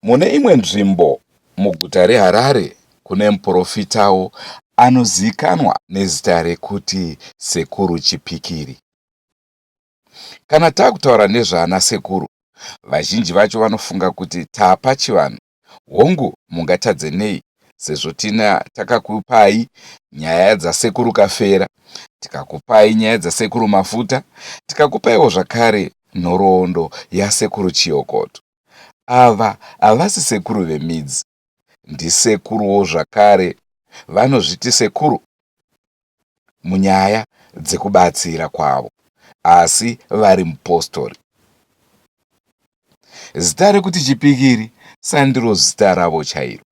Mune imwe nzvimbo muguta reHarare kune muporofitawo anozivikanwa nezita rekuti Sekuru Chipikiri. Kana takutaura nezvaana sekuru vazhinji vacho vanofunga kuti taapachivanhu Hongu mungatadze nei sezvo tina takakupai nyaya dzasekuru Kafera, tikakupai nyaya dzasekuru Mafuta, tikakupaiwo zvakare nhoroondo yasekuru Chiyokoto. Ava havasi sekuru vemidzi, ndisekuruwo zvakare vanozviti sekuru munyaya dzekubatsira kwavo asi vari mupostori. Zita rekuti chipikiri sandiro zita ravo chairo,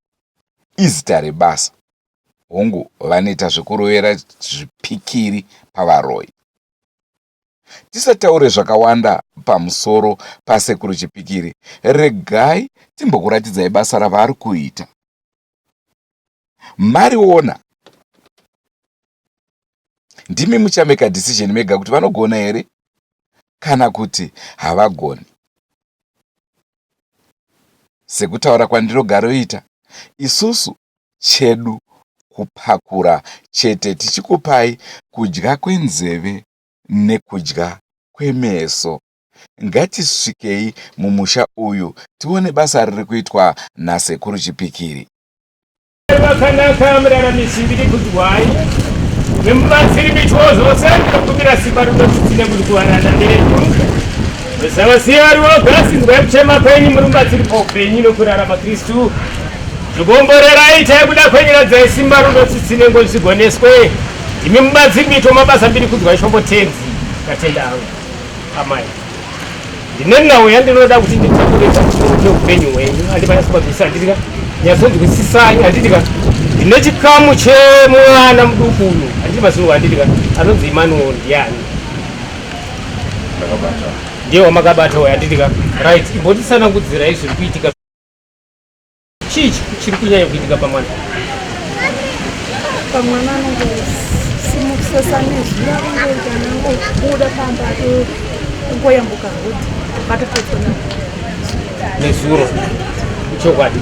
izita rebasa. Hongu, vanoita zvekurovera zvipikiri pavaroyi. Tisataure zvakawanda pamusoro paSekuru Chipikiri, regai timbokuratidzai basa ravari kuita. Mariona, ndimi muchameka decision mega kuti vanogona here kana kuti havagoni. Sekutaura kwandinogaroita, isusu chedu kupakura chete tichikupai kudya kwenzeve nekudya kwemeso. Ngatisvikei mumusha uyu tione basa riri kuitwa naSekuru Chipikiri. vakanaka muraramisi ndiri kudzwai nemubatsiri mityo zvose ndinokumbira simba rinotisine kuti kuvaranda ndedu zavaziva vari voga sinzwa yekuchema kwenyu muri mubatsiri paupenyu nokurarama kristu zvikomborerai itai kuda kwenyu radzai simba runotsitsine ngo zvigoneswe imi mubatsiri mityo mabasa mbiri kudzwa ishombo tenzi katenda avo amai ndine nhau yandinoda kuti nditaurisa neupenyu hwenyu handipana sibabisa handitika nyazonzwisisai handitika ndine chikamu chemwana muduku uyu handiti mazuva handitika anonzi imanuel ndiani ndiye wamakabata uyo handitika right imbotisanangudzirai zviri kuitika Chii chiri kunyanya kuitika pamwana? Pamwana anongosimukusesa nezwi akungoita nangobuda pamba kungoyambuka hudhi patototona nezuro chokwadi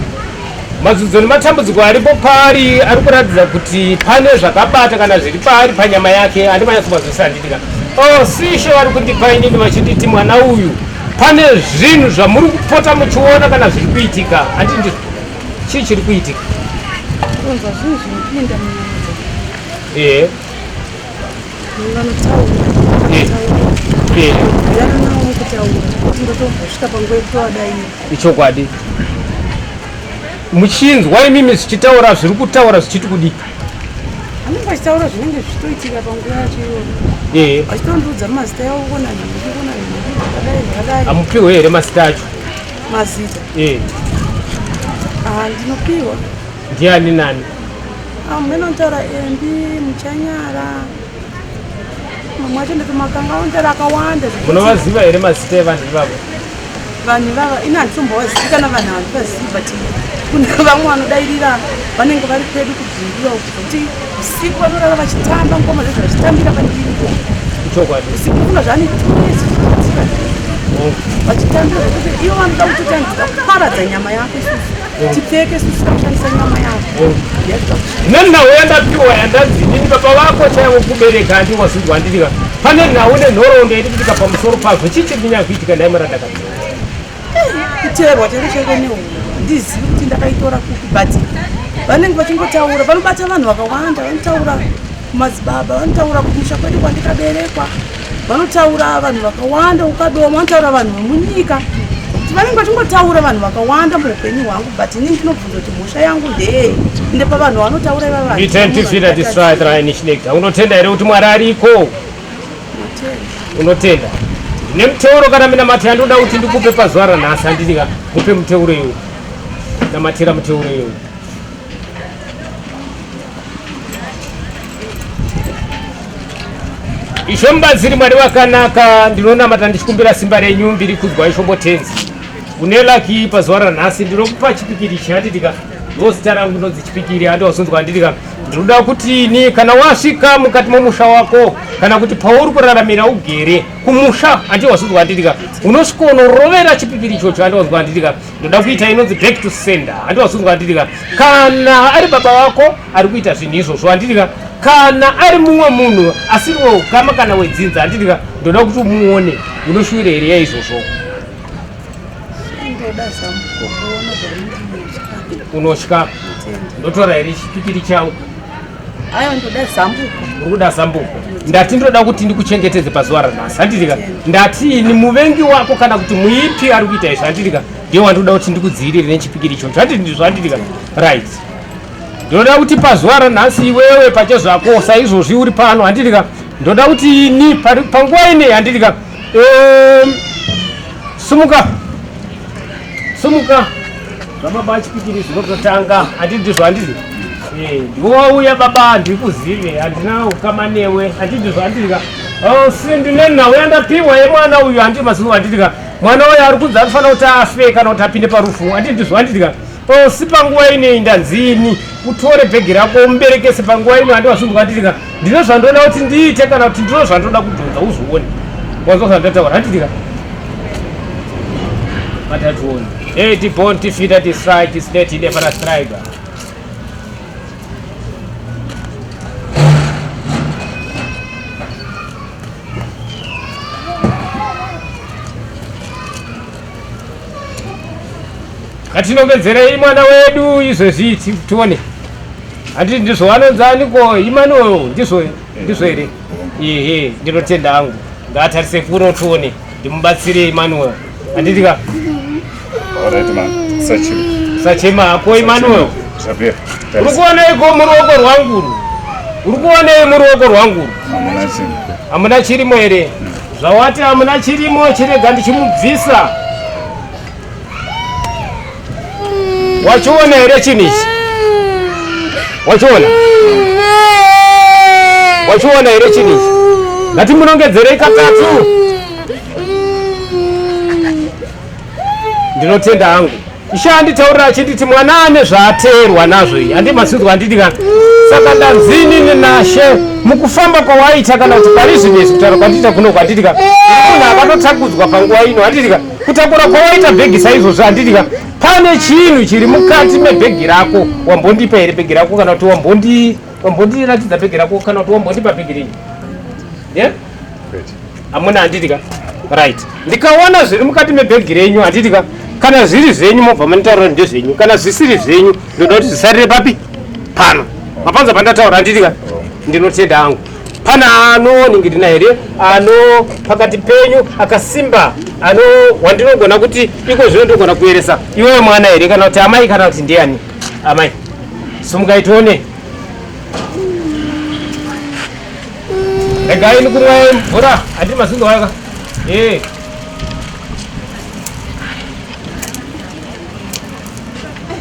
mazudzo nematambudziko aripo paari ari kuratidza kuti pane zvakabata kana zviri paari panyama yake andimanyatsomazvisa handidika oh sisho vari kundipa inini vachinditi mwana uyu Pane zvinhu zvamuri kupota muchiona kana zviri kuitika ati ndi chii chiri kuitika? Kunzwa zvinhu zvinopinda munyanza. Eh. Vanotaura. Eh. Eh. Yanawo kutaura. Ndotosvika panguva yekutowadai. Ichokwadi. Muchinzwa imimi zvichitaura zviri kutaura zvichiti kudii? anenge achitaura zvinenge zvichitoitika panguva yacho iyoyo achitondiudza mazita yavo kona kona zvakadai zvakadai amupiwe here mazita acho mazita ah, ndinopiwa ndiani nani amene ah, antaura embi muchanyara mamwe acho ndatomakanga ontaura akawanda munovaziva here mazita evanhu ivavo vanhu ivava ini handitombovazivi kana vanhu havandivazivi but kune vamwe vanodairira vanenge vari pedu kubvindira uku kuti usiku vanorara vachitamba ngoma zvezvo vachitambira pandiripo usiku kuna zvaanitueziaa oh. vachitambira zvekuti ivo vanoda kutoti andiza kuparadza nyama yako isusu tipfeke sisi takushandisa nyama yavo nenhau yandapiwa yandanzi nini baba vako chaivo kubereka andi wazvinzwa andidika pane nhau nenhoroondo yaidikitika pamusoro pazvo chii chiri kunyanya kuitika ndai marandaka kuteerwa chero chaivo nehu ndizivi kuti ndakaitora kupi but vanenge vachingotaura vanobata vanhu vakawanda vanotaura Madzibaba vanotaura kumusha kwedu kwandikaberekwa, vanotaura vanhu vakawanda ukadoma, vanotaura vanhu vemunyika kuti vanenge vachingotaura vanhu vakawanda muupenyu hwangu, but inini ndinobvunza kuti mhosva yangu ndeyei ende pavanhu vanotaura iva vanhu. Unotenda here kuti Mwari ariko? Unotenda nemuteuro kana minamato yandoda kuti ndikupe pazuva ranhasi handidika mupe muteuro iwe namatira muteuro iwe izvo mubatsiri mwari wakanaka ndinonamata ndichikumbira simba renyu mbiri kudzwa ishombo tenzi une laki pazuva ranhasi ndinokupa chipikiri chinatitika ndozita rangu ndinonzi chipikiri andiwazonzwa handitika ndinoda kuti ini kana wasvika mukati momusha wako kana kuti pauri kuraramira ugere kumusha andiwazonzwa handitika unosvika unorovera chipikiri ichocho andiwazonzwa handitika ndoda kuita inonzi back to sender handiwazunzwa anditika kana ari baba vako ari kuita zvinhu izvozvo anditika kana ari mumwe munhu asiri weukama kana wedzinza anditika ndoda kuti umuone unoshuwira here yaizvozvo unotya ndotora here chipikiri changu Ayo ndoda zambuko. Ukuda zambuko. Ndati ndoda kuti ndikuchengetedze pazuva ranhasi. Handirika. Ndati ni muvengi wako kana kuti muipi ari kuita izvi. Handirika. Ndiye wandoda kuti ndikudziirire nechipikiri icho. Zvati ndizvo handirika. Right. Ndoda kuti pazuva ranhasi iwewe pache zvako saizvozvi uri pano handirika. Ndoda kuti ni panguva ine handirika. Um, sumuka sumuka zvababa achipikiri zvinototanga atidizvo andizi eh, ndiwouya baba handikuzive handina ukama newe atidizvo andiika oh, sindine nhau yandapiwa yemwana uyu handi mazuva andiika mwana uyu ari kunzi anofanira kuti afe kana kuti apinde parufu atidizvo andiika oh, si panguva inei ndanzini utore bhegi rako umuberekese panguva ino handiwazunduka andiika ndine zvandoda kuti ndiite kana kuti ndino zvandoda kudhonza uzvione wanzwa zvandataura handitika matationi e tibon tifita tistrike tiside tide fana strike ngatinongedzerei mwana wedu izvezvi tione handiti ndizvo vanonzani ko imanuel ndizvo ndizvo here ehe ndinotenda hangu ngaatarise furo tione ndimubatsire imanuel handiti ka sachema hako imanuel uri kuonei ko muruoko rwanguru uri kuonei muruoko rwanguru hamuna chirimo here Zvawati hamuna chirimo chirega ndichimubvisa. Wachiona here chinhu ichi? Wachiona? Wachiona here chinhu ichi? Ngatimunongedzerei katatu. Ndinotenda hangu. Ishe anditaurira achinditi mwana ane zvaateerwa nazvo iyi handi masinzwa anditi kana saka ndanzini nenashe mukufamba kwawaita kana kuti pari zvinhu izvi kutaura kwandiita kuno kwanditi ka munhu akatotakudzwa panguva ino handiti ka kutakura kwawaita bhegi saizvozvo handiti ka pane chinhu chiri mukati mebhegi rako wambondipa here bhegi rako kana kuti wambondiratidza bhegi rako kana kuti wambondipa bhegi rinyi yeah? amuna handiti ka right ndikaona zviri mukati mebhegi renyu handiti ka kana zviri zvenyu mobva manitaura ndezvenyu kana zvisiri zvenyu ndoda kuti zvisarire papi pano mapanza pandataura handiti ka ndinotenda hangu pane anoningirina here ano pakati penyu akasimba ano wandinogona kuti iko zvino ndogona kueresa iwewe mwana here kana kuti amai kana kuti ndiani amai sumukaitione regai ndikumwa mvura handiri mazindo waka ee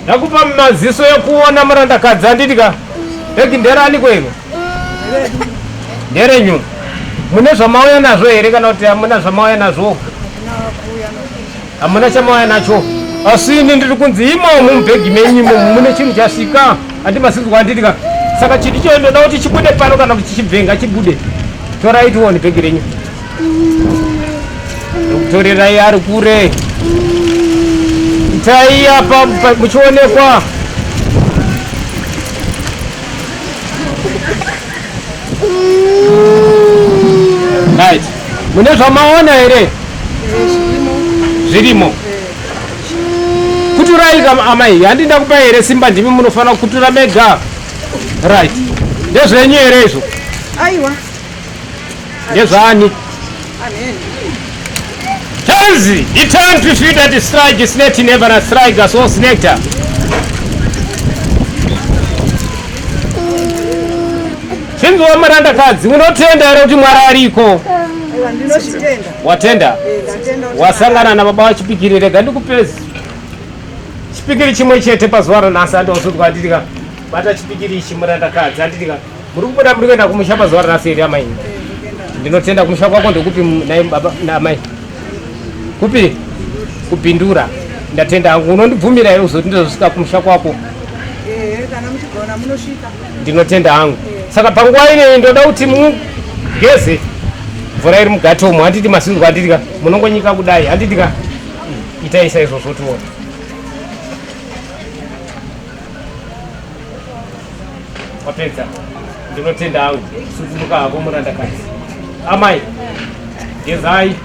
ndakupa maziso ekuona murandakadzi anditi ka regi nderani kwenu nderenyu mune zvamauya nazvo here kana kuti hamuna zvamauya nazvo Hamuna chamauya nacho. Asi ini ndiri kunzi imomo mubhegi menyu imomo mune chinhu chasvika handimasinzwa handiti ka saka chiti choyo ndoda kuti chibude pano kana kuti chichibvenga chibude torai tione bhegi renyu torerai ari kure itai apa muchionekwa Right. Mune zvamaona here? Zvirimo. Kuturai kama amai, handi ndakupa here simba ndimi munofanira kutura mega. Right. Ndezvenyu here izvo? Aiwa. Ndezvani? Tenzi, it's time to shoot at the strike, it's not never a strike, that's all nectar. Tenzi wamaranda kadzi, unotenda here kuti mwari ariko? Watenda? Wasangana na baba wachipikiri, rega ndikupezi. Chipikiri chimwe chete pazuva ranhasi andozodzwa anditika. Bata chipikiri ichi muranda kadzi anditika. Muri kubuda muri kuenda kumusha pazuva ranhasi here amai? Ndinotenda kumusha kwako ndekupi naye baba naamai? Kupi? Kupindura. Ndatenda hangu unondibvumira here kuzoti ndozosvika kumusha kwako? Eh, kana muchigona munosvika. Ndinotenda hangu. Saka panguva ineyi ndoda kuti mugeze mvura iri mugate umo handiti masinzwa handiti ka munongonyika kudai handiti ka itai saizvozvo tione. wapedza ndinotenda hangu sukumuka hako murandakadzi amai gezai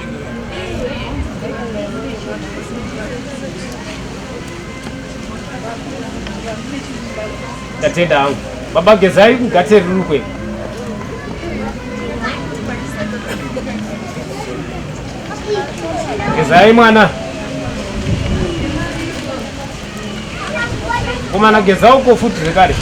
ndatenda hangu baba gezai kugate rirukwe gezai mwana Komana geza uko futi zvekare.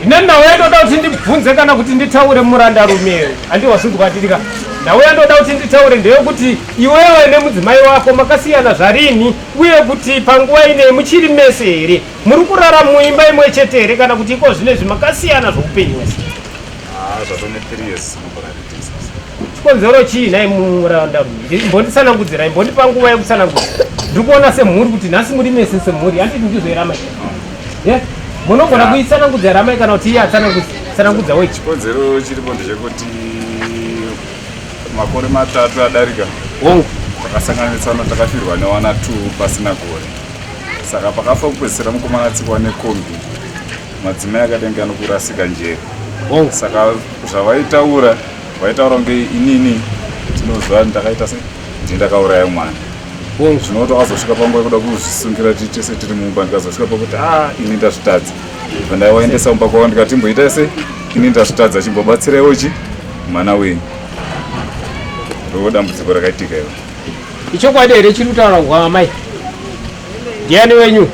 Ine ndauya ndoda kuti ndibvunze kana kuti nditaure muranda rume. Andi wasunzwa tirika. Ndauya ndoda kuti nditaure ndeye kuti iwewe nemudzimai wako makasiyana zvarini uye kuti panguva ine muchiri mese here? Muri kurara muimba imwe chete here kana kuti iko zvine zvimakasiyana zvoupenyu wese? Ah, zvatone 3 years mubara reTexas. chikonzero chii nhai muranda rume mbonditsanangudzira imbondipa nguva yekutsanangudza ndiri kuona semhuri kuti nhasi muri mese semhuri handiti ndizoirama ye munogona kuitsanangudza ramai kana kuti iye atsanangudza wechi Chikonzero chiripo ndechekuti makore matatu adarika wongu takasanganitsana takafirwa newana two pasina gore saka pakafa kupedzisira mukomana atsikwa nekombi madzimai akadenge anokurasika njere oh. saka zvavaitaura vaitaura kunge inini tinozva ndakaita se ndindakauraya mwana oh. zvinoti wakazosvika panguva yekuda kuzvisungira ti tese tiri mumba ndikazosvika pakuti a ini ndazvitadza vandaiwaendesa mumba kwavo ndikatimboita se ini ndazvitadza chimbobatsiraiwo chi mwana wenyu ndo dambudziko rakaitika ivo ichokwadi here chiri kutaura kwamai ndiani wenyu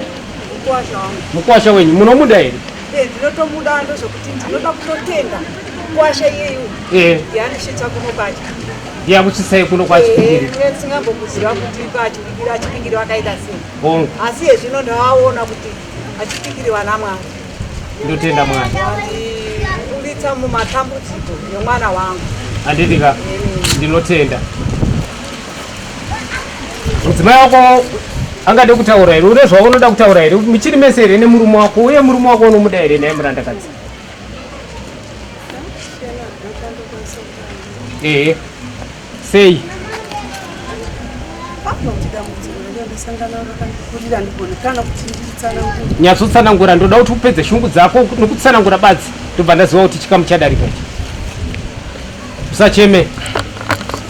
mukwasha wenyu munomuda here eh, ndinotomuda ndozokuti ndinoda kutotenda mukwasha iyeyu eh. yaanishitsa kuno kwacho yakuchisai kuno kwachisingambokuziva eh, kuti achipikiri achipikiri vakaita sei asi hezvino ndavaona kuti achipikiri vana mwari ndotenda mwari ndibuditsa mumatambudziko yemwana wangu handidika ndinotenda mudzimai wako angade kutaura here une zvaunoda kutaura here muchiri mese here nemurume wako uye murume wako unomuda here naye murandakadzi ehe sei nyatsotsanangura ndoda kuti upedze shungu dzako nokutsanangura badzi ndobva ndaziva kuti chikamu chadarika ichi Usacheme.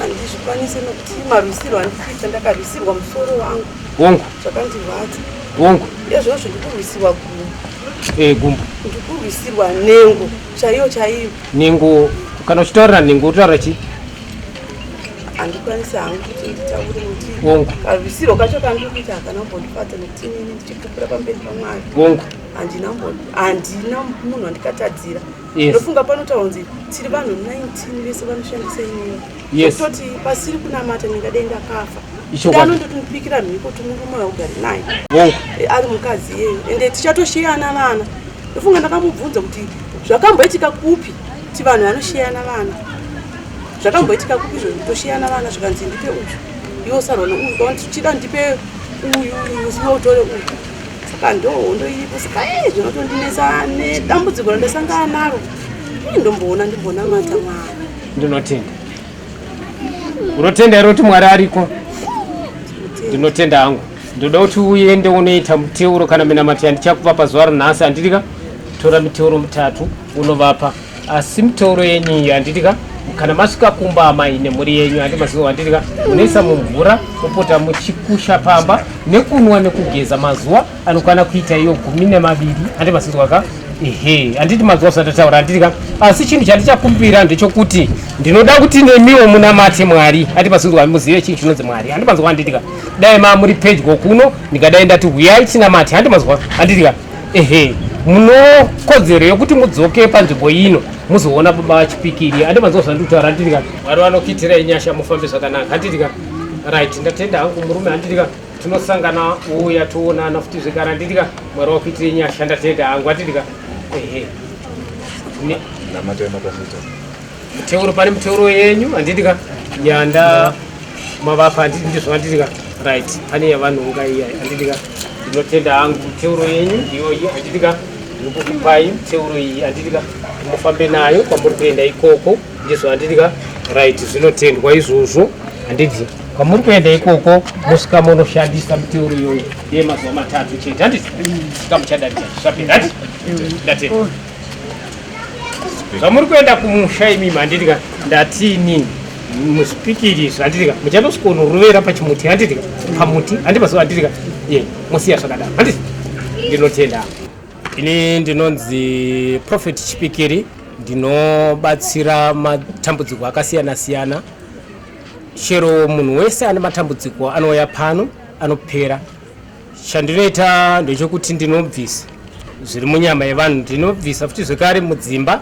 Andizvikwanise nokuti marwisirwo andikuita ndakarwisirwa musoro wangu. Wongu. Zvakandirwadza. Wongu. Ezvozvo ndikurwisirwa gumbo. Eh gumbo. Ndikurwisirwa nengo chaiyo chaiyo. Nengo kana uchitaurira nengo utaura chii? handikwanisi hangu kuti nditaure kuti wongu karwisiro kacho kandiri kuita hakana kumbondifadza nekuti inini ndichipupura pamberi pamwari wongu handina munhu wandikatadzira ndofunga yes. panotaura kunzi tiri vanhu 19 vese vanoshandisa imweyo yes. toti pasiri kunamata ndingadenga kafa dano ndotinopikira mhiko timurume augari naye oh. Eh, ari mukadzi iyeyo ende tichatosheyana vana ndofunga ndakamubvunza kuti zvakamboitika kupi ti vanhu vanosheyana vana zvakamboitika kupi zvo tosheyana vana zvikanzi ndipe uyu iwo sarona uyu kaonti tichida ndipe uyu uyu siwe utore uyu saka ndohondo iripo saka e zvinotondinetsa nedambudziko randasangana naro i ndomboona ndimbonamata mwari ndinotenda unotenda here kuti mwari ariko ndinotenda hangu ndoda kuti uende unoita muteuro kana minamato yandichakupa pazuva rinhasi handidika tora miteuro mitatu unovapa asi mitoro yenyu iyo handiti ka kana masvika kumba amai nemhuri yenyu handi mazivo handiti ka munoisa mumvura mopota muchikusha pamba nekunwa nekugeza mazuva anokwana kuita iyo gumi nemaviri handi maziva ka ehe handiti mazuva zvisati taura handiti ka asi chinhu chandichakumbira ndechokuti ndinoda kuti nemiwo munamate mwari handi maziva muzive chinhu chinonzi mwari handi maziva handiti ka dai mamuri pedyo kuno ndingadai ndati huyai tinamate handi maziva handiti ka ehe munokodzero yekuti mudzoke panzvimbo ino muzoona baba vachipikiri ande manzwa zvandikutaura handitika mwari vanokuitira inyasha mufambe zvakanaka handitika right ndatenda hangu murume handitika tinosangana uya toonana futi zvekare handitika mwari vakuitira inyasha ndatenda hangu handitika ehe namatai matambudziko Muteuro pane muteuro yenyu handiti ka yanda mavapa handiti ndizvo handiti ka right pane yavanhonga iya handiti ka ndinotenda hangu muteuro yenyu iyoyi handiti ka ndikukupai muteuro iyi handiti ka mufambe nayo kwamuri kuenda ikoko ndizvo handiti ka right zvinotendwa izvozvo handiti kwamuri kuenda ikoko musika munoshandisa muteuro iyoyi yemazuva matatu chete handiti sika muchadadira zvapera handiti ndatenda zvamuri kuenda kumusha imi manditika ndatini muspikiri zvanditika muchanosvika unorovera pachimuti handitika pamuti handipaso handitika ye mosiya zvakadaro handiti ndinotenda ini ndinonzi prophet chipikiri ndinobatsira matambudziko akasiyana siyana chero munhu wese ane matambudziko anouya pano anopera Chandinoita ndechokuti ndinobvisa zviri munyama yevanhu, ndinobvisa futi zvekare mudzimba.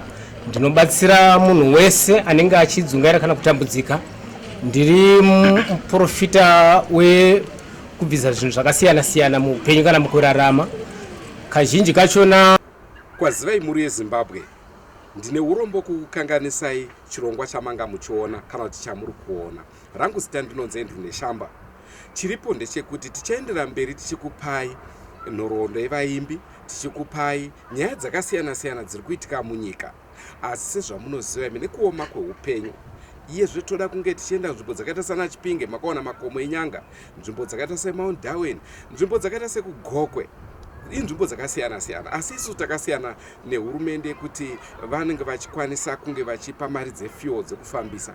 Ndinobatsira munhu wese anenge achidzungaira kana kutambudzika. Ndiri muprofita wekubvisa zvinhu zvakasiyana siyana muupenyu kana mukurarama kazhinji kachona. Kwazivai mhuri yeZimbabwe, ndine urombo kukukanganisai chirongwa chamanga muchiona kana kuti chamuri kuona. Rangu zita ndinonzi Andrew Neshamba. Chiripo ndechekuti tichaendera mberi tichikupai nhoroondo yevaimbi, tichikupai nyaya dzakasiyana siyana dziri kuitika munyika. Asi sezvamunoziva imi nekuoma kweupenyu iyezve toda kunge tichienda nzvimbo dzakaita sana chipinge makaona makomo enyanga nzvimbo dzakaita semount darwin nzvimbo dzakaita sekugokwe inzvimbo dzakasiyana siyana asi isu takasiyana nehurumende yekuti vanenge vachikwanisa kunge vachipa mari dzefuel dzekufambisa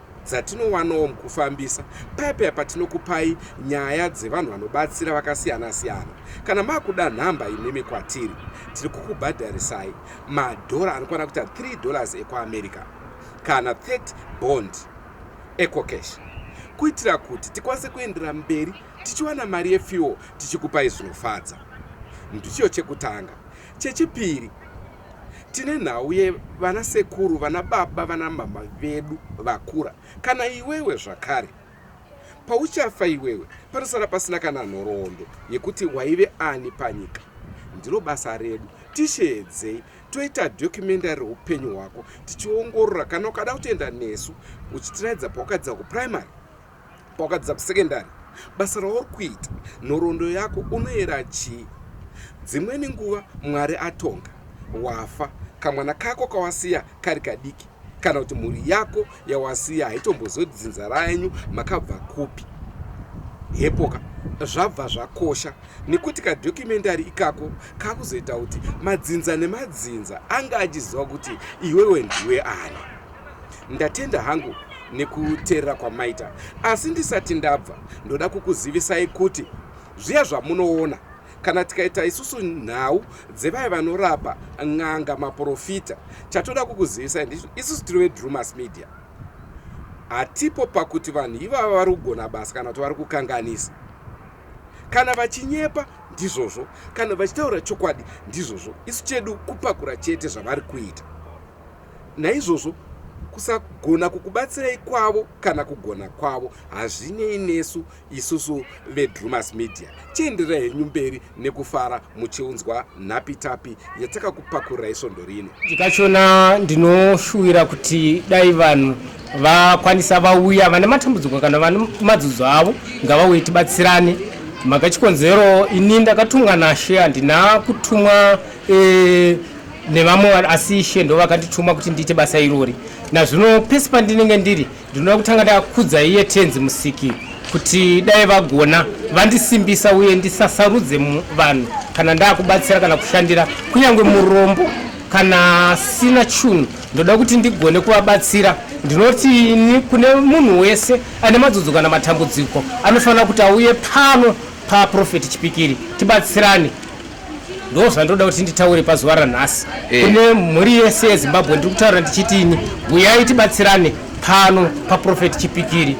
dzatinowanawo mukufambisa paya paya patinokupai nyaya dzevanhu vanobatsira vakasiyana siyana kana makuda nhamba imimi kwatiri tiri kukubhadharisai madhora anokwana kuita 3 dollars ekuamerica kana 30 bond ecocash kuitira kuti tikwanise kuendera mberi tichiwana mari yefuel tichikupai zvinofadza ndichiyo chekutanga chechipiri Tine nhau ye vana sekuru, vana baba, vana mama vedu vakura. Kana iwewe zvakare. Pauchafa iwewe panosara pasina kana nhoroondo yekuti waive ani panyika. Ndiro basa redu. Tisheedzei toita documentary reupenyu hwako tichiongorora kana ukada kutoenda nesu uchitiraidza pawakadzidza kuprimary Wakadzidza kusekendari, basa rauri kuita, nhoroondo yako unoyera chii? Dzimweni nguva Mwari atonga, wafa, kamwana kako kawasiya kari kadiki, kana kuti mhuri yako yawasiya haitombozivi kuti dzinza renyu makabva kupi. Hepoka zvabva zvakosha nekuti kadhokumentari ikako kakuzoita kuti madzinza nemadzinza anga achiziva kuti iwewe ndiwe ani. Ndatenda hangu nekuteerera kwamaita asi ndisati ndabva ndoda kukuzivisai kuti zviya zvamunoona kana tikaita isusu nhau dzevaya vanorapa n'anga maprofita chatoda kukuzivisai ndizvo isusu tiri vedrumas media hatipo pakuti vanhu ivava vari kugona basa kana kuti vari kukanganisa kana vachinyepa ndizvozvo kana vachitaura chokwadi ndizvozvo isu chedu kupakura chete zvavari kuita Naizvozvo, kusagona kukubatsirai kwavo kana kugona kwavo hazvinei nesu isusu vedrumas media chienderai henyu mberi nekufara muchiunzwa nhapitapi yatakakupakurirai svondo rino ndikachona ndinoshuwira kuti dai vanhu vakwanisa vauya vane matambudziko kana vane madzudzo avo ngavauye tibatsirane mhaka chikonzero ini ndakatumwa nashe handina kutumwa e, nevamwe asi ishe ndo vakandituma kuti ndiite basa irori nazvino pese pandinenge ndiri ndinoda kutanga ndakudza iye tenzi musiki kuti dai vagona vandisimbisa uye ndisasarudze vanhu kana ndakubatsira kana kushandira kunyange murombo kana sina chunhu ndoda kuti ndigone kuvabatsira ndinoti ini kune munhu wese ane madzodzo kana matambudziko anofanira kuti auye pano paprofeti chipikiri tibatsirane ndo zvandoda kuti nditaure pazuva ranhasi eh. kune mhuri yese yezimbabwe ndiri kutaura ndichiti ini buyai tibatsirane pano paprofeti chipikiri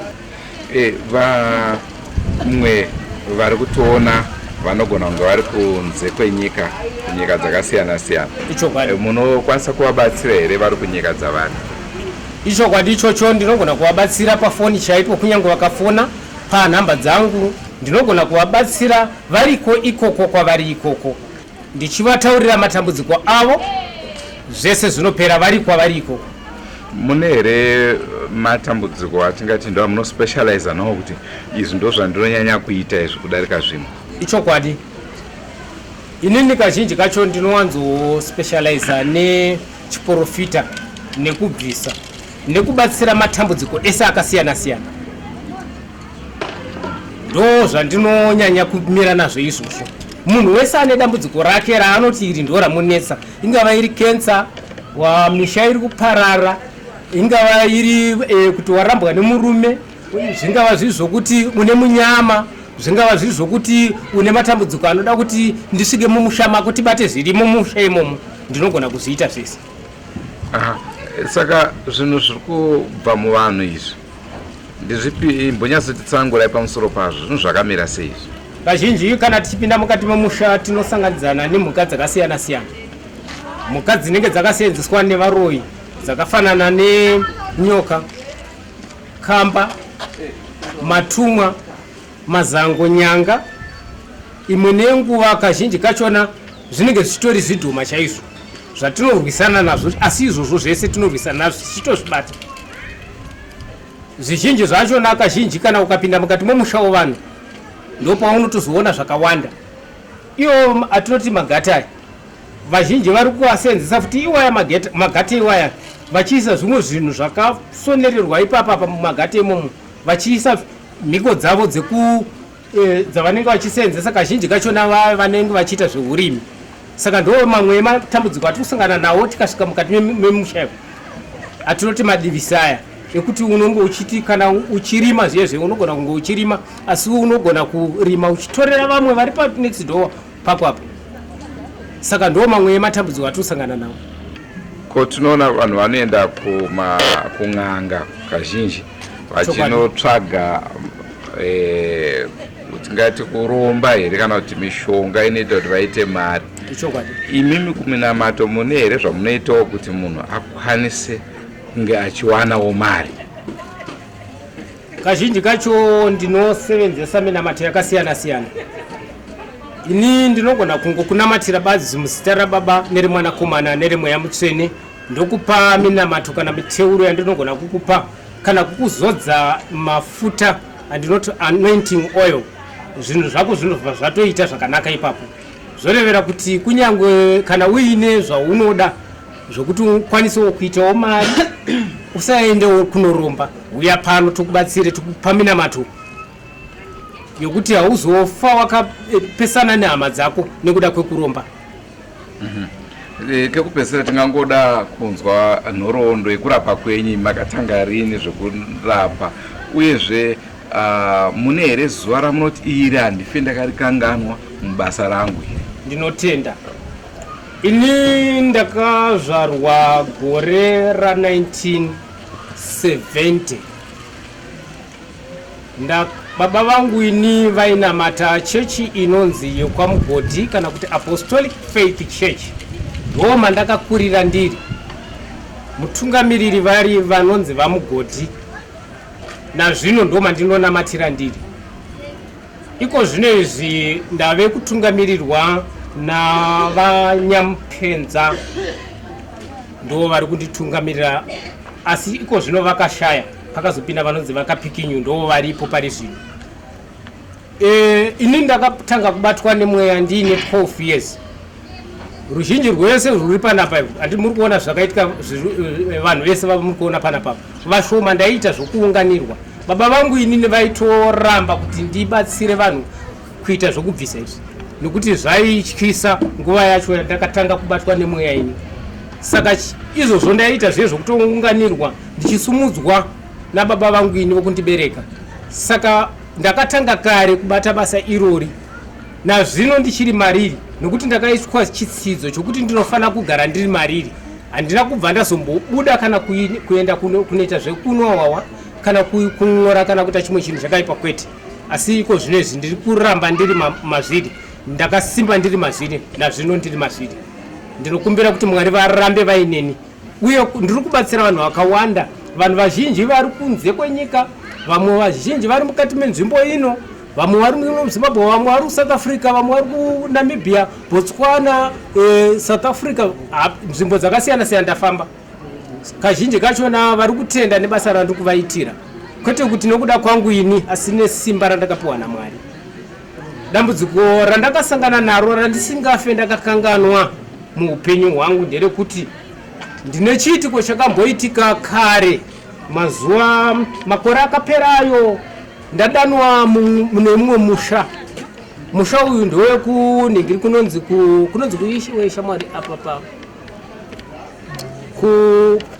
eh, vamwe vari kutoona vanogona kunge vari kunze kwenyika kunyika dzakasiyana siyana eh, munokwanisa kuvabatsira here vari kunyika dzavari ichokwadi ichocho ndinogona kuvabatsira pafoni chaipo kunyange vakafona panhamba dzangu ndinogona kuvabatsira Variko ikoko kwavari ikoko ndichivataurira matambudziko avo zvese zvinopera vari kwavari ikoko. Mune here matambudziko atingati ndo amunospecializa nawo kuti izvi ndo zvandinonyanya kuita izvi kudarika zvimwe? Ichokwadi inini kazhinji kacho ndinowanzospecializa nechiporofita nekubvisa nekubatsira matambudziko ese akasiyana siyana. ndo zvandinonyanya kumira nazvo izvozvo munhu wese ane dambudziko rake raanoti iri ndo ramunetsa ingava iri kensa wamisha iri kuparara ingava iri e, kuti warambwa nemurume zvingava zviri zvokuti une munyama zvingava zviri zvokuti une matambudziko anoda kuti ndisvike mumusha mako tibate zviri mumusha imomo ndinogona kuzviita zvese Aha. Saka zvinhu zviri kubva muvanhu izvi ndizvipi mbonyatsotitsangurai pamusoro pazvo zvinhu zvakamira sei izvi? Kazhinji kana tichipinda mukati memusha tinosanganidzana nemhuka dzakasiyana siyana. Mhuka dzinenge dzakaseenzeswa nevaroyi dzakafanana nenyoka, kamba, matumwa, mazango, nyanga imwe nenguva kazhinji kachona zvinenge zvichitori zvidhoma chaizvo zvatinorwisana nazvo asi izvozvo zvese tinorwisana nazvo tichitozvibata zvizhinji zvachona kazhinji kana ukapinda mukati momusha wevanhu ndopaunotozoona zvakawanda iwo atinoti magata aya vazhinji vari kuasenzesa futi iwaya magata iwaya vachiisa zvimwe zvinhu zvakasonererwa ipapa pamagata imomo vachiisa mhiko dzavo dzeku e, dzavanenge vachiseenzesa kazhinji kachona vaya vanenge vachiita zveurimi saka ndo mamwe ematambudziko atiri kusangana nawo tikasvika mukati memusha atinoti madivisi aya ekuti unonge uchiti kana uchirima zviye zve unogona kunge uchirima asi unogona kurima uchitorera vamwe vari panext door pako apo saka ndo mamwe ematambudziko atinosangana nawo ko tinoona vanhu vanoenda kun'anga kazhinji vachinotsvaga eh, tingati kuromba here kana kuti mishonga inoita kuti vaite mari imimi kuminamato mune here zvamunoitawo kuti munhu akwanise kunge achiwanawo mari Kazhinji kacho ndinosevenzesa minamato yakasiyana siyana. Ini ndinogona kungo kunamatira badzi muzita rababa nerimwanakomana nerimweya mutsvene ndokupa minamato kana miteuro yandinogona kukupa kana kukuzodza mafuta andinoti anointing oil zvinhu zvako zvinobva zvatoita zvakanaka ipapo zvorevera kuti kunyange kana uine zvaunoda zvokuti ukwanisewo kuitawo mari usaendewo kunoromba uya pano tokubatsire tokupaminamato yokuti hauzofa wakapesana nehama dzako nekuda kwekuromba mhm. eh, kekupesera tingangoda kunzwa nhoroondo yekurapa kwenyu makatanga rini zvekurapa uyezve ah, mune here zuva ramunoti iri handife ndakarikanganwa mubasa rangu ndinotenda Ini ndakazvarwa gore ra 1970 nda baba vangu ini vainamata chechi inonzi yekwamugodhi kana kuti apostolic faith church ndoo mandakakurira ndiri mutungamiriri vari vanonzi vamugodhi nazvino ndo mandinonamatira ndiri Iko zvino izvi ndave kutungamirirwa naVaNyamupenza ndo vari kunditungamirira asi iko zvino vakashaya pakazopinda vanonzi vakapikinyu ndo varipo pari zvino e, ini ndakatanga kubatwa nemweya ndiine 12 years ruzhinji rwese rwuri panapa ivo andi muri kuona zvakaitika eh, vanhu vese vava muri kuona panapapa vashoma ndaiita zvokuunganirwa baba vangu inini vaitoramba kuti ndibatsire vanhu kuita zvokubvisa izvi nokuti zvaityisa nguva yacho yandakatanga kubatwa nemweya ini saka izvozvo ndaiita zviye zvokutounganirwa ndichisumudzwa nababa vangu ini vokundibereka saka ndakatanga kare kubata basa irori Nazvino ndichiri mariri nokuti ndakaiswa chitsidzo chokuti ndinofanira kugara ndiri mariri. Handina kubva ndazombobuda kana kuenda kunoita zvekunwa wawa kana kun'ora kana kuita chimwe chinhu chakaipa kwete. Asi iko zvino izvi ndiri kuramba ndiri mazviri. Ndakasimba ndiri mazviri nazvino ndiri mazviri. Ndinokumbira kuti Mwari varambe vaineni uye ndiri kubatsira vanhu vakawanda vanhu vazhinji vari kunze kwenyika vamwe vazhinji vari mukati menzvimbo ino vamwe vari muzimbabwe vamwe vari kusouth africa vamwe vari kunamibia botswana eh, south africa nzvimbo dzakasiyana siyana ndafamba kazhinji kachona vari kutenda nebasa randiri kuvaitira kwete kuti nokuda kwangu ini asi nesimba randakapiwa namwari dambudziko randakasangana naro randisingafe ndakakanganwa muupenyu hwangu nderekuti ndine chiitiko chakamboitika kare mazuva makore akapera ayo Ndadanwa mune mumwe musha musha uyu ndewekunhingiri kunonzi kunonzi kuishiwe shamwari apa pa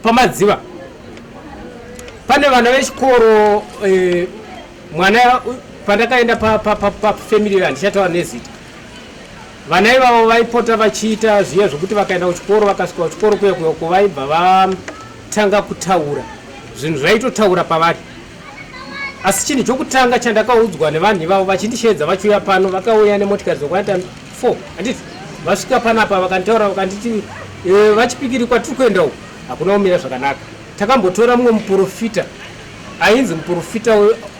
pamadziva pane vana vechikoro eh, mwana pandakaenda pafamily pa, handichataura nezita vana ivavo vaipota vachiita zviya zvekuti vakaenda kuchikoro vakasvika kuchikoro kuya kuya uko vaibva vatanga kutaura zvinhu zvaitotaura pavari asi chinhu chokutanga chandakaudzwa nevanhu ivavo vachindisheedza vachiuya pano vakauya nemotikari dzokwaita 4 anditi vasvika panapa vakanditaura vakanditi eh, vachipikiri kwatiri kuenda uku hakuna kumira zvakanaka takambotora mumwe muprofita ainzi muprofita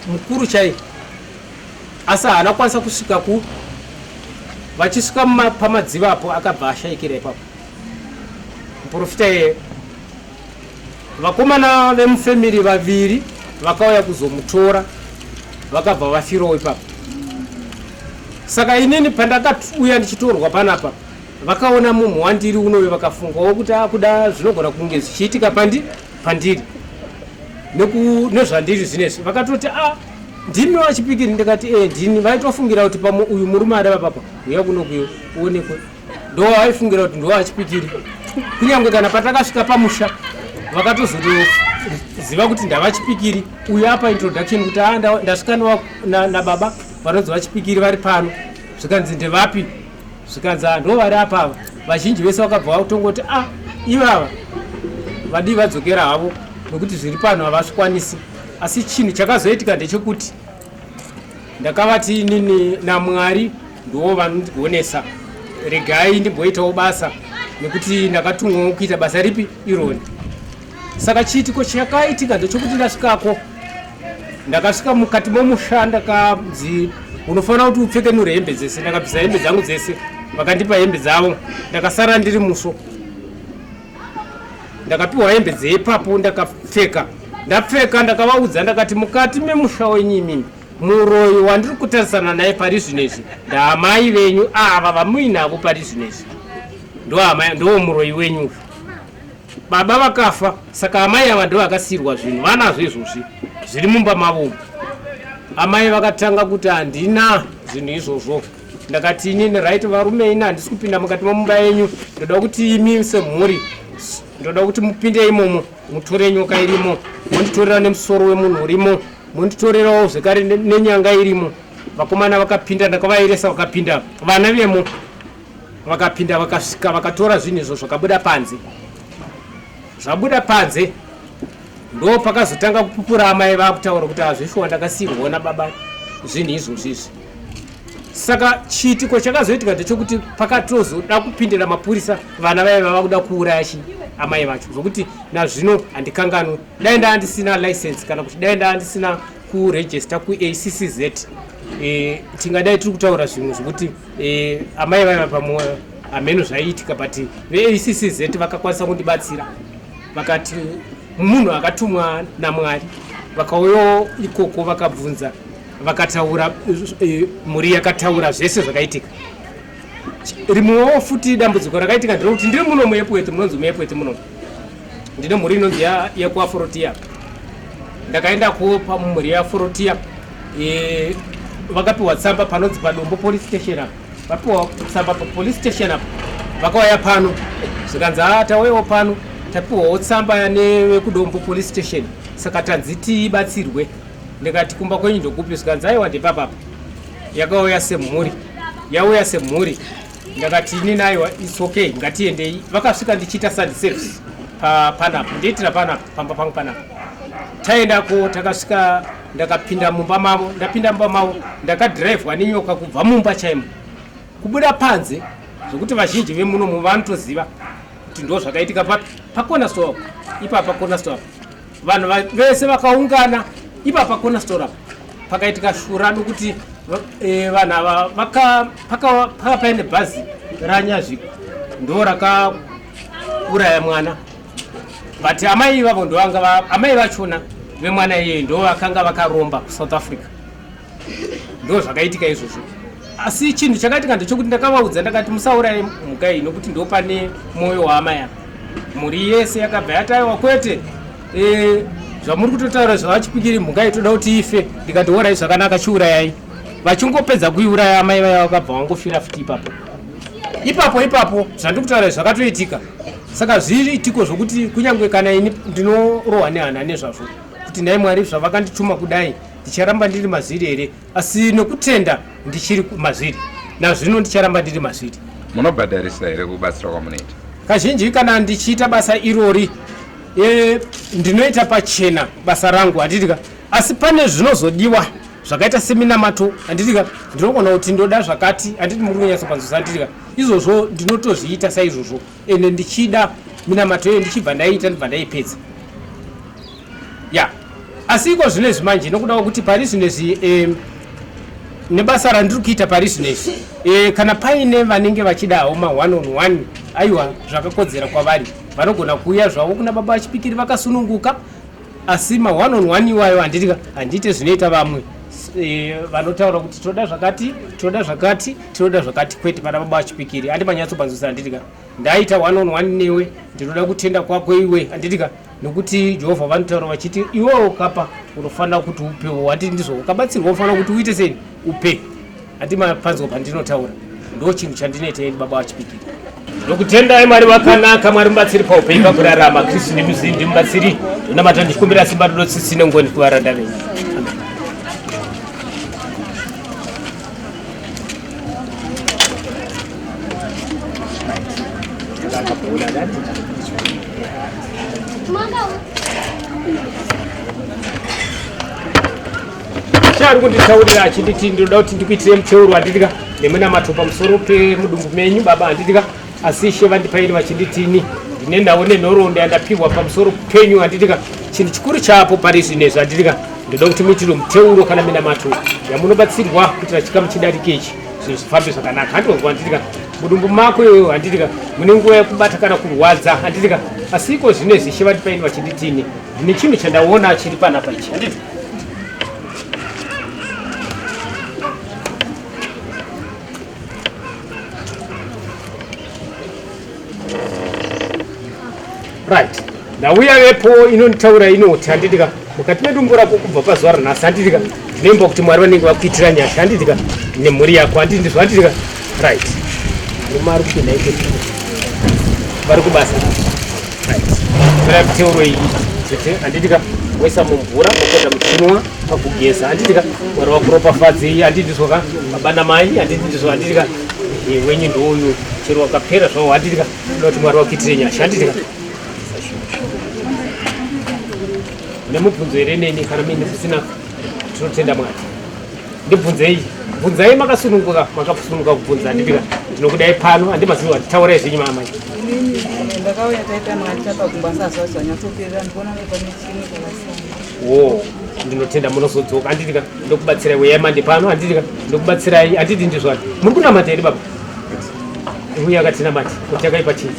mukuru chaiye asi haana kukwanisa kusvika ku vachisvika pamadziva apo akabva ashaikira ipapo muprofita iye Vakomana vemufamily vaviri vakauya kuzomutora vakabva vafirawo ipapo. Saka inini pandakauya ndichitorwa panapa vakaona munhu wandiri unoyo vakafungawo kuti akuda ah, zvinogona kunge zvichiitika pandi pandiri nezvandiri zvinezvi vakatoti a ah, ndimi vachipikiri ndikati e ndini vaitofungira kuti pamwe uyu murume adava papa uya kunokuyo uonekwe ndovaaifungira kuti ndovachipikiri kunyange kana patakasvika pamusha vakatozotoziva kuti ndavachipikiri uyo apa introduction kuti a ah, ndasvika nababa vanonzi vachipikiri vari pano zvikanzi ndevapi zvikanzi ah, ndo vari apa ava vazhinji vese vakabva vakutongoti a ah, ivava vadii vadzokera havo nokuti zviri pano havazvikwanisi asi chinhu chakazoitika ndechekuti ndakavati inini namwari ndiwo vanondigonesa regai ndimboitawo basa nekuti ndakatumwawo kuita basa ripi ironi saka chiitiko chakaitika ndechokuti ndasvikako ndakasvika mukati momusha ndakanzi unofanira kuti upfekenure hembe dzese ndakabvisa hembe dzangu dzese vakandipa hembe dzavo ndakasara ndiri musvo ndakapiwa hembe dzeipapo ndakapfeka ndapfeka ndakavaudza ndakati mukati memusha wenyu imimi muroyi wandiri kutarisana naye pari zvino izvi ndaamai venyu ava vamuinavo pari zvino izvi ndoo muroyi wenyu baba vakafa saka amai ava ndo vakasiyirwa zvinhu vanazvo izvozvi zviri mumba mavo amai vakatanga kuti handina zvinhu izvozvo ndakati inini right varume ini handisi kupinda mukati memumba yenyu ndoda kuti imi semhuri ndoda kuti mupinde imomo mutore nyoka irimo monditorera nemusoro wemunhu urimo monditorerawo zvekare nenyanga irimo vakomana vakapinda ndakavaeresa vakapinda vana vemo vakapinda vakasvika vakatora zvinhu izvo zvakabuda panze zvabuda panze ndo pakazotanga kupupura amai vakutaura kuti hazvishuwa ndakasiirwa nababa zvinhu izvozvizvi saka chiitiko chakazoitika ndechokuti pakatozoda kupindira mapurisa vana vaye vava kuda kuuraya chi amai vacho zvokuti nazvino handikanganwe dai ndaa ndisina license kana kuti dai ndaa ndisina kurejista kuaccz e, eh, tingadai tiri kutaura zvimwe zvokuti e, amai vaye vapamwe hameno zvaiitika but veaccz e vakakwanisa kundibatsira vakati munhu akatumwa namwari vakauyawo ikoko vakabvunza vakataura eh, mhuri yakataura zvese zvakaitika rimwewo futi dambudziko rakaitika ndirekuti ndiri muno muepweti munonzi muepweti muno ndine mhuri inonzi yekuaforotia ndakaenda kuwo pamhuri yeaforotia eh, vakapiwa tsamba panonzi padombo police station apo vapiwa tsamba papolice station apo vakauya pano zvikanzi a ah, tauyawo pano tapiwawo tsamba nevekudombo police station saka tanzi tibatsirwe ndikati kumba kwenyu ndokupi zvikanzi aiwa ndepapapa yakauya semhuri yauya semhuri ndakati ini naiwa its okay ngatiendei vakasvika ndichiita sandiservice panapo ndiitira panapo pamba pangu panapo taendako takasvika ndakapinda mumba mavo ndapinda mumba mavo ndakadhiraivhwa nenyoka kubva mumba chaimo kubuda panze zvekuti vazhinji vemunomu vanotoziva kuti ndo zvakaitika papi pakona stoa ipapa kona stoa vanhu vese vakaungana ipa pakona stora pakaitika shura nokuti e, vanhu ava pakanga paine bhazi ranyazviko ndo rakauraya mwana but amai ivavo ndoamai vachona vemwana iyeye ndo vakanga vakaromba kusouth africa ndo zvakaitika izvozvo asi chinhu chakaitika ndechokuti ndakavaudza ndakati musauraye mhuka iyi nokuti ndo pane mwoyo waama yavo mhuri yese yakabva yataiwa kwete e, zvamuri kutotaura zvavachipikiri mhuka iyi toda kuti ife ndikati orai zvakanaka chiurayai vachingopedza kuiuraya amai vaya vakabva vangofira futi ipapo ipapo ipapo zvandiri kutaura zvakatoitika saka zviitiko zvokuti kunyange kana ini ndinorohwa nehana nezvazvo kuti nhai mwari zvavakandituma kudai ndicharamba ndiri mazviri here asi nokutenda ndichiri mazviri nazvino ndicharamba ndiri mazviri munobhadharisa here kubatsira kwamunoita kazhinji kana ndichiita basa irori e, ndinoita pachena basa rangu handitika asi pane zvinozodiwa zvakaita seminamato handitika ndinogona kuti ndoda zvakati handiti muri kunyatsopanzwisa handitika izvozvo ndinotozviita saizvozvo ende ndichida minamato iyo ndichibva ndaiita ndibva ndaipedza ya asi iko zvino izvi manje nokuda kwekuti pari zvino izvi eh, nebasa randiri kuita pari zvino izvi eh, kana paine vanenge vachidawo ma one on one aiwa zvakakodzera kwavari vanogona kuuya zvavo kuna baba vachipikiri vakasununguka asi ma one on one iwayo handiti ka handiite zvinoita vamwe eh, vanotaura kuti tinoda zvakati tinoda zvakati tinoda zvakati kwete vana baba vachipikiri handi manyatsobanzwisa handiti ka ndaita one on one newe ndinoda kutenda kwako iwe handiti ka nokuti jehovha vanotaura vachiti iwewo kapa unofanira kuti upewo handiti ndizvo ukabatsirwa unofanira kuti uite sei upe Ati mapanzwa pandinotaura ndo chinhu chandinoita ini baba vachipikira. Ndokutendai Mwari vakanaka, Mwari mubatsiri paupenyu pakurarama, Kristu ndimuzivi ndimubatsiri, ndonamata ndichikumbira simba rudo tsitsi nengoni kuvaranda venyu. chaari kunditaurira achiti ti ndinoda kuti ndikuitire muteuro handidika nemunamato pamusoro pemudumbu menyu baba handidika asi ishe vandipaini vachinditini ndine nhau nenhoroondo yandapihwa pamusoro penyu handidika chinhu chikuru chaapo pari zvino izvo handidika ndoda kuti muitire muteuro kana minamato yamunobatsirwa kuitira chikamu chidariki ichi zvinhu zvifambe zvakanaka handionzwa handidika mudumbu mako iyoyo handidika mune nguva yekubata kana kurwadza handidika asi iko zvino izvi ishe vandipaini vachinditini ndine chinhu chandaona chiri panapa ichi handidika right ndauya vepo inonditaura inoti handitika mukati medumbu rako kubva pazuva ranhasi handitika nemba kuti mwari vanenge vakuitira nyasha handitika nemhuri yako handitika Right. Murume ari kupinda ipe vari kubasa. Right. Zvira kutaurwa iyi kuti handiti ka woisa mumvura mopota muchinwa pakugeza handiti ka mwari wakuropafadzei handiti zvo ka baba namai handiti ndizvo handiti ka Eh, wenyu ndouyu chero wakapera zvavo handiti ka unoda kuti mwari wakuitire nyasha handiti ka nemubvunzo here neni kana mine zvisina tinotenda mwari ndibvunzei bvunzai makasununguka makasununguka kubvunza handipika ndinokudai pano handimaziva kuti taurai zvenyu maamai ndakauya taita mwaita pakumba sazva zvanyatsoperera ndikuona nepamichini wo ndinotenda munozodzoka handiti ka ndokubatsirai weyai mande pano handiti ka ndokubatsirai handiti ndizvani muri kunamata here baba uya akatinamata kuti akaipa chii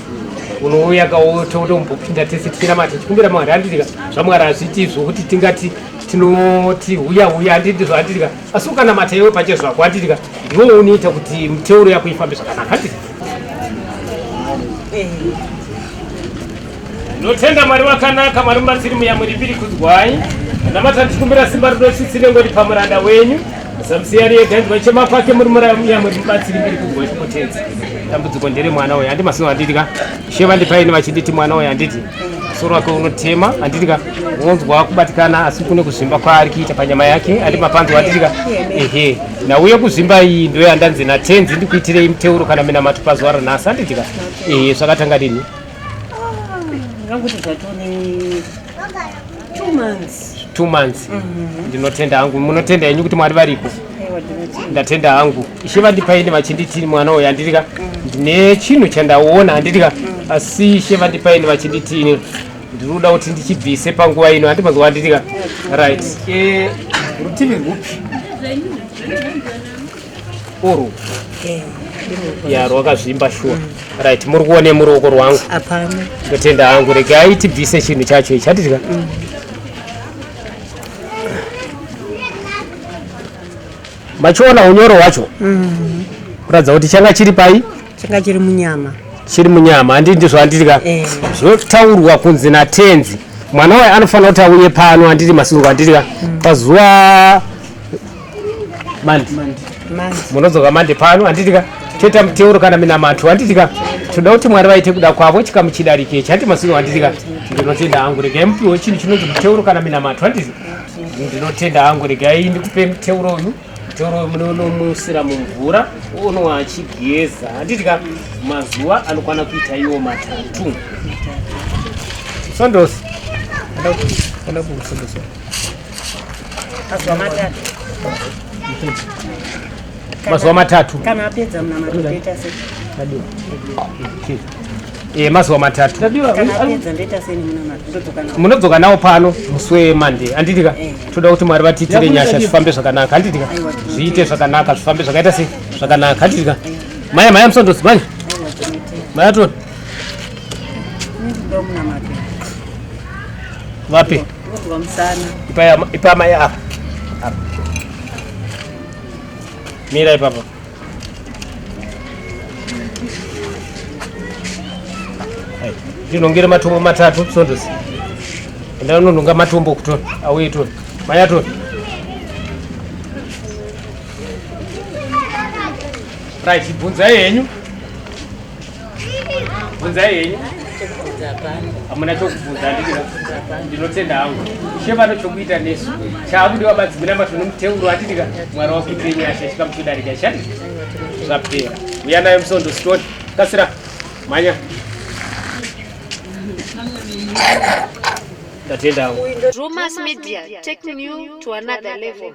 unouya kaototombopinda tese tikinamata tikumbira mwari handiti ka zvamwari hazviiti zvokuti tingati tinoti huya huya anditi zvanditika asi ukanamata iwe pache zvako anditika ndiwo unoita kuti muteuro yako ifambe zvakanaka anditi notenda mwari wakanaka mwari mubatsiri muyamuri mbiri kudzwai anamata ndikumbira simba rinosisi nengoti pamuranda wenyu zamusiyari yega ndwa chema kwake muri muyamuri mubatsiri mbiri kudzwai kumutedzi dambudziko ndere mwana uyo andimasiwo anditika sheva ndipaini vachinditi mwana uyo anditi Soro wake unotema anditika unonzwa kubatikana asi kune kuzvimba kwaari kuita panyama yake andi mapanzwa anditika ehe nauye kuzvimba iyi ndo yandanzi natenzi ndikuitirei muteuro kana minamato pazuva ranhasi anditika ehe zvakatanga dini ah, Two months. Two months. Mm -hmm. Ndinotenda hangu. Munotenda henyu kuti mwari variko. Ndatenda hangu. Ishe vandipaini vachinditi mwana uyu andidika. Mm. Ndine chinhu chandaona andidika. Mm. Asi ishe vandipaini vachinditi ini. Ndiri kuda kuti ndichibvise panguva ino handi mazuva andidika. Right. Eh, rutivi rwupi? uru eh, ya rwakazvimba shuwa mm. right muri kuone muruoko rwangu apana ndatenda hangu regai tibvise chinhu chacho ichi hatidya mm. machiona unyoro hwacho mm. kuratidza kuti changa chiri pai changa chiri munyama chiri munyama handi ndizvo handidya eh. zvotaurwa kunzi natenzi mwana waye anofanira kuti auye pano handiti masungo handidya mm. pazuva mandi munodzoka mandi pano handitika toita muteuro kana minamato handitika tinoda kuti mwari vaite kuda kwavo chikamu chidarike chati masino handitika ndinotenda hangu regai mupiwo chinhu chinonzi muteuro kana minamato handiti ndinotenda hangu regai ndikupe muteuro uyu toro munonomusira mumvura onwa achigeza handitika mazuva anokwana kuita iwo matatu sondosi mazuva matatu mazuva matatu kana apedza munamaoeta se e mazuva matatu munodzoka nawo pano musi wemande anditika eh. toda kuti mwari vatiitire nyasha zvifambe zvakanaka anditika zviite zvakanaka zvifambe zvakaita se zvakanaka anditika eh. maya maya musondosi mani maya toni vapi Ndinonzwa musana. Ipa ipa mai apa. Apa. Mira ipapa. Hai. Ndinongere matombo matatu sondosi. Enda unononga matombo kutona. Auye tona. Mai atona. Right, ibvunzai henyu. bvunzai henyu hamuna chokubvunza ndinotenda hangu ishe vano chokuita nesu chaakude wabadzimira mato nomuteuro atidika mwari wakuitirei nyasha chikamuchidarika chani zvapera uya nayo musondo sitoni kasira manya ndatenda hangu Drewmas Media, taking you to another level.